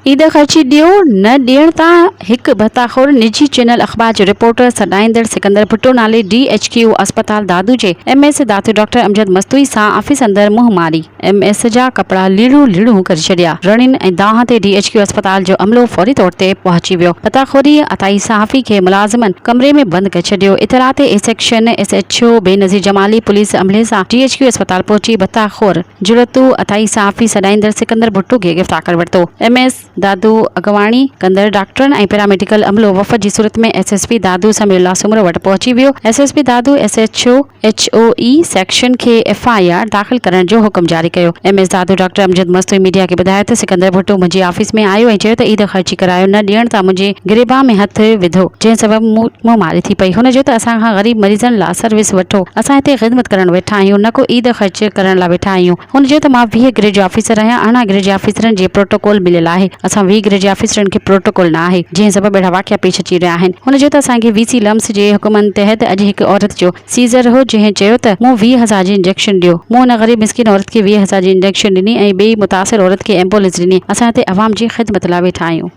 عيد خرچي ڏيو، نه ڏيڻ تان هڪ ڀتاخور نجي چينل اخبار جو رپورٽر سڏائيندڙ سڪندر ڀٽو نالي ڊي ايڇ ڪيو اسپتال دادو جي M S Dadu doctor Amjad Mastoi سان آفيس اندر منهن ماري ايم ايس جا ڪپڙا ليڙون ليڙون ڪري ڇڏيا رڙين ۽ دانهن تي ڊي ايڇ ڪيو اسپتال جو عملو فوري طور تي پهچي ويو ڀتاخوري عطائي صحافي کي ملازمن ڪمري ۾ بند ڪري ڇڏيو اطلاع تي A section S H O Benazir Jamali police عملي سان ڊي ايڇ ڪيو اسپتال پهچي ڀتاخور جرئت اٿائي صحافي سڏائيندڙ سڪندر ڀٽو کي گرفتار ڪري ورتو، ايم ايس دادو اڳواڻي ڪندڙ ڊاڪٽرن ۽ پيراميڊيڪل عملو وفد جي صورت ۾ S S P Dadu Samiullah Soomro وٽ پهچي ويو، S S P Dadu S H O H O A section کي ايف آء آر داخل ڪرڻ جو حڪم جاري ڪيو، M S Dadu doctor Amjad Mastoi media کي ٻڌايو ته سڪندر ڀٽو منهنجي آفيس ۾ آيو ۽ چيو ته عيد خرچي ڪرايو نه ڏيڻ تان منهنجي گريبان ۾ هٿ وڌو جنهن سبب مون ماري ٿي پئي، هن چيو ته اسان کان غريب مريضن لا. سروس وٺو اسان هتي خدمت ڪرڻ ويٺا آهيون نه ڪو عيد خرچ ڪرڻ لاء ويٺا آهيون هن چيو ته مان ويهه گرڊ جو آفيسر آهيان ارڙهن گرڊ جي آفيسرن جي پروٽوڪول مليل آهي اسان ويهه گرڊ جي آفيسرن کي پروٽوڪول نه آهي جنهن سبب اهڙا واقعا پيش اچي رهيا آهن هن چيو ته اسان کي وي سي لمس جي حڪمن تحت اڄ هڪ عورت جو سيزر هو جنهن چيو ته مون ويهه هزار جي انجيڪشن ڏيو مون ان غريب مسڪين عورت کي ويهه هزار جي انجيڪشن ڏني ۽ ٻئي متاثر عورت کي ايمبولينس ڏني اسان هتي عوام جي خدمت لاء ويٺا آهيون.